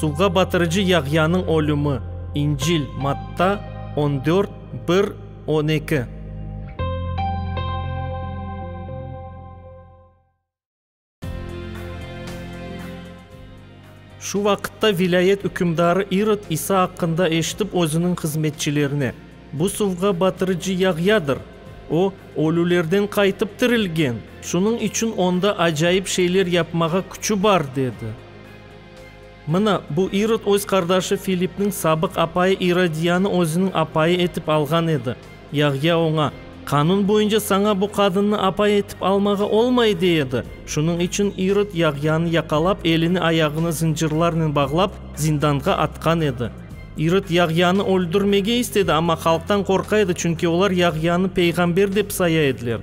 Suvğa batırıcı Yahyanıñ ölümi, İncil, Matta, on dört, bir, on eki. Şu vaqıtta vilâyet ükümdarı İrod İsa aqqında eşitip özüniñ hızmetçilerine, Bu suvğa batırıcı Yahyadır! O, ölülerden qaytıp tirilgen, şunıñ içün onda acayip şeyler yapmağa küçü bar, dedi. Mına, bu İrod öz qardaşı Filipniñ sabıq apayı İrodiyanı özüniñ apayı etip alğan edi. Yahya oña, Qanun boyunca saña bu qadınnı apay etip almağa olmay, dey edi. Şunıñ içün İrod Yahyanı yaqalap, elini ayağını zıncırlarnen bağlap, zindanğa atqan edi. İrod Yahyanı öldürmege istedi, amma halqtan qorqa edi, çünki olar Yahyanı peyğamber dep saya ediler.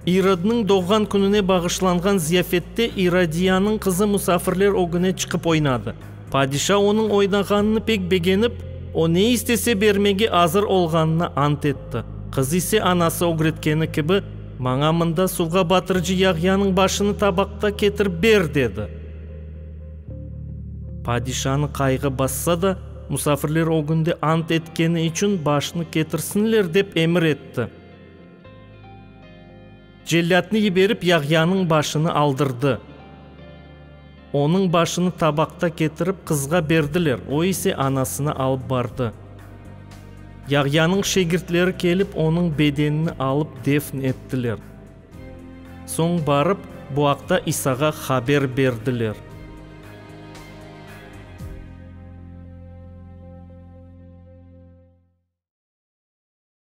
İrodnıñ doğğan kününe bağışlanğan ziyafette İrodiyanıñ qızı musafirler ögüne çıqıp oynadı. Padişa onıñ oynağanını pek begenip, o ne istese bermege azır olğanına ant etti. Qız ise anası ögretkeni kibi, Maña mında suvğa batırıcı yağyanıñ başını tabaqta ketirip ber, dedi. Padişanı qayğı bassa da, musafirler ögünde ant etkeni içün başnı ketirsinler dep emir etti. Cellâtnı yiberip Yahyanıñ başını aldırdı. Onıñ başını tabaqta ketirip qızğa berdiler, o ise anasına alıp bardı. Yahyanıñ şegirtleri kelip onıñ bedenini alıp defn ettiler. Soñ barıp bu aqta İsağa haber berdiler.